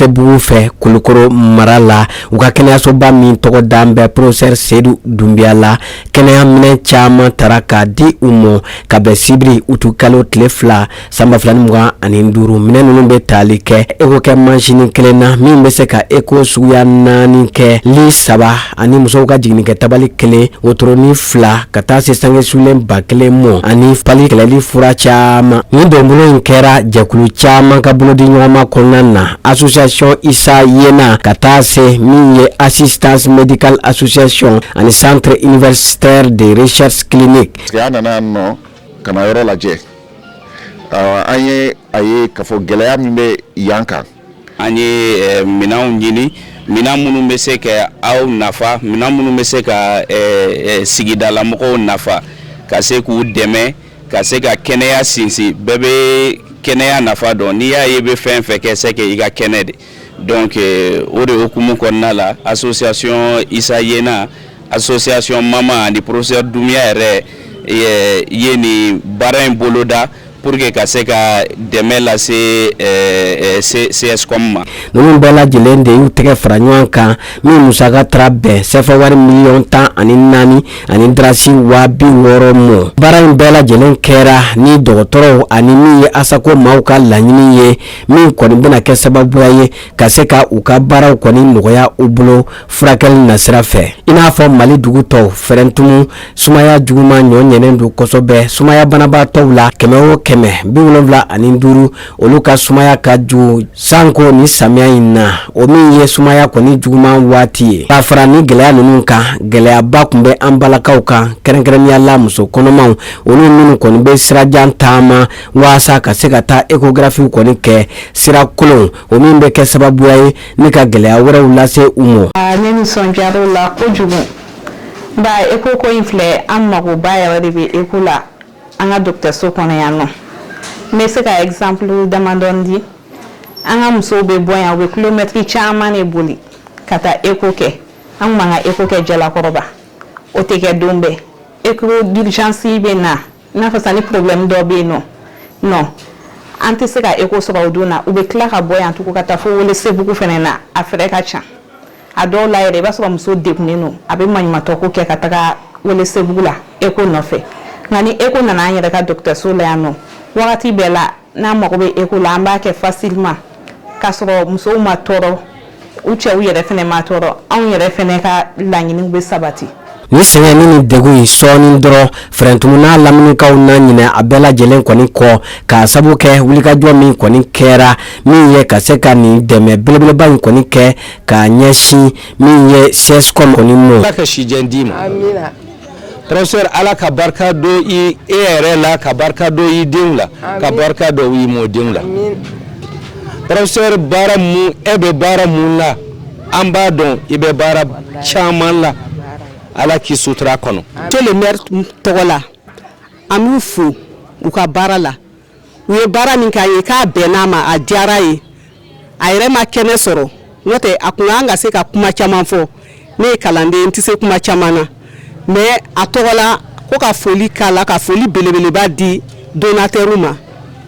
bugu fɛ kulukoro mara la u ka kɛnɛyasoba min tɔgɔ dan bɛ professeur sedu dunbiya la kɛnɛya minɛn caman taara k'a di u ma ka bɛn sibiri utu kalo tile fila San ba fila ni mugan ani duuru minɛn ninnu bɛ tali kɛ eko kɛ mansin kelen na min bɛ se ka eko suguya naani kɛ li saba ani musow ka jiginni kɛ tabali kelen wotoronin fila ka taa se sange sulen ba kelen mɔ ani pali kɛlɛli fura caman ni donbolo in kɛra jɛkulu caman ka bolodi ɲɔgɔnma kɔnɔna na association isa yena ka taa se min ye assistance médicale association ani centre universitaire de recherche clinique ka na yɔrɔ lajɛ an ye a ye k'a fɔ gɛlɛya min bɛ yan kan an ye minɛnw ɲini minɛn minnu bɛ se ka aw nafa minɛn minnu bɛ se ka sigidalamɔgɔw nafa ka se k'u dɛmɛ ka se ka kɛnɛya sinsin bɛɛ bɛ kɛnɛya nafa dɔn n'i y'a ye bɛ fɛn fɛn kɛ c'est que i ka kɛnɛ de Donc o de hukumu kɔnɔna la association isa yena association mama ani professeur dunbiya yɛrɛ ye nin baara in boloda pour que ka se ka dɛmɛ lase CSCOM ma ninnu bɛɛ lajɛlen de y'u tɛgɛ fara ɲɔgɔn kan min musaka taara bɛn sefa wari miliyɔn tan ani naani ani drasi waa bi wɔɔrɔ ma baara in bɛɛ lajɛlen kɛra ni dɔgɔtɔrɔw ani min ye asako maaw ka laɲini ye min kɔni bɛna kɛ sababuya ye ka se ka u ka baaraw kɔni nɔgɔya u bolo furakɛli nasira fɛ i n'a fɔ mali dugu tɔw fɛrɛntumu sumaya juguma ɲɔɲɛnen don kosɛbɛ sumaya banabaatɔw la kɛmɛ o kɛmɛ bi wolonwula ani duuru olu ka sumaya ka jugu sanko ni samiya in na o min ye sumaya kɔni juguman waati ye k'a fara ni gɛlɛya ninnu kan gɛlɛyaba tun bɛ an balakaw kan kɛrɛnkɛrɛnnenya la muso kɔnɔmaw olu minnu kɔni bɛ sirajan taama walasa ka se ka taa ecografiw kɔni kɛ sira kolon o min bɛ kɛ sababuya ye ni ka gɛlɛya wɛrɛw lase u ma. ne nisɔndiyara o la kojugu nka eko ko in filɛ an magoba yɛrɛ de bɛ eko la an ka dɔgɔtɔrɔso kɔnɔ yan nɔ n bɛ se ka exemple damadɔni di an ka musow bɛ bɔ yan u bɛ kilomɛtiri caman de boli ka taa eko kɛ an tun b'an ka eko kɛ jalakɔrɔba o tɛ kɛ don bɛɛ eko d'urgence bɛ na N'a fɔ sisan ni problème dɔ bɛ yen nɔ nɔn an tɛ se ka eko sɔrɔ o don na u bɛ tila ka bɔ yan tugun ka taa fo welesebugu fana na a fɛrɛ ka jan a dɔw la yɛrɛ i b'a sɔrɔ muso degunnen don a bɛ maɲumantɔ ko kɛ ka taga welesebugu la eko nɔfɛ nka ni eko nana an yɛrɛ ka dɔgɔtɔrɔso la yan nɔ wagati bɛɛ la n'an mago bɛ écho la an b'a kɛ facilement k'a sɔrɔ musow ma tɔɔrɔ u cɛw yɛrɛ fɛnɛ ma tɔɔrɔ anw yɛrɛ fɛnɛ ka laɲiniw bɛ sabati ni sɛgɛn ni ni degun in sɔɔni dɔrɔn fɛrɛntumu n'a laminikaw na ɲinɛ a bɛɛ lajɛlen kɔni kɔ k'a sabu kɛ wulikajɔ min kɔni kɛra min ye ka se ka nin dɛmɛ belebeleba in kɔni kɛ k'a ɲɛsin min ye CSCOM kɔni mɔ. Ala ka si jan d'i ma. Amina. professeur Ala ka barika don i e yɛrɛ la ka barika don i denw la ka barika don i mɔdenw la professeur baara mun e bɛ baara mun la an b'a dɔn i bɛ baara caman la Ala k'i sutura kɔnɔ. To le maire tɔgɔ la an b'u fo u ka baara la. u ye baara min k'a ye k'a bɛn n'a ma a diyara ye a yɛrɛ ma kɛnɛ sɔrɔ n'o tɛ a kun kan ka se ka kuma caman fɔ ne ye kalanden n tɛ se kuma caman na mais a tɔgɔ la ko ka foli k'a la ka foli belebeleba di donateur ma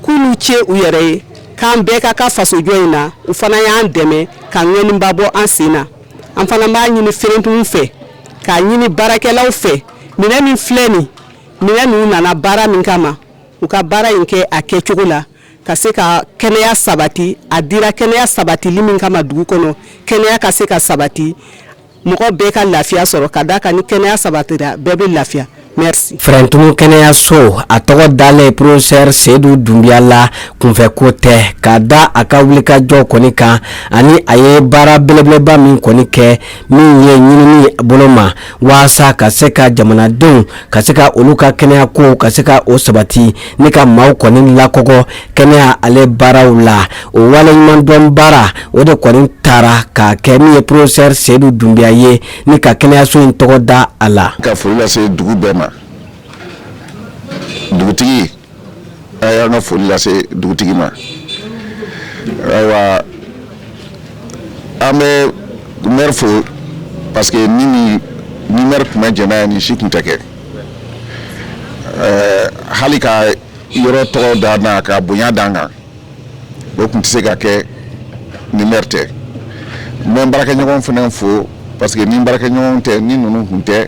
k'u n'u ce u yɛrɛ ye k'an bɛɛ ka ka fasojɔ in na u fana y'an dɛmɛ ka ŋɔniba bɔ an sen na an fana b'a ɲini fɛrɛntumu fɛ k'a ɲini baarakɛlaw fɛ minɛn min filɛ nin minɛn ninnu nana baara min kama u ka baara in kɛ a kɛcogo la ka se ka kɛnɛya sabati a dira kɛnɛya sabatili min kama dugu kɔnɔ kɛnɛya ka se ka sabati mɔgɔ bɛɛ ka lafiya sɔrɔ ka da kan ni kɛnɛya sabatira bɛɛ bɛ lafiya merci fɛrɛntumu kɛnɛyayaso a tɔgɔ dalen professeur Seydou Doumbia la kunfɛko tɛ ka da a ka wulikajɔ kɔni kan ani a ye baara belebeleba min kɔni kɛ min ye ɲinini bolo ma waasa ka se ka jamanadenw ka se ka olu ka kɛnɛyako ka se ka o sabati ni ka maaw kɔni lakɔgɔ kɛnɛya ale baaraw la o waleɲumandɔn baara o de kɔni taara ka kɛ min ye professeur Seydou Doumbia ye ni ka kɛnɛyaso in tɔgɔ da a la ka foli lase dugu bɛɛ ma dugutigi a y'an ka foli lase dugutigi ma ayiwa an bɛ mɛri fo parce que ni ni ni mɛri tun ma jɛn n'a ye nin si tun tɛ kɛ hali ka yɔrɔ tɔgɔ da n na ka bonya da n kan o tun tɛ se ka kɛ ni mɛri tɛ n bɛ baarakɛɲɔgɔn fana fo parce que ni baarakɛɲɔgɔn tɛ ni ninnu tun tɛ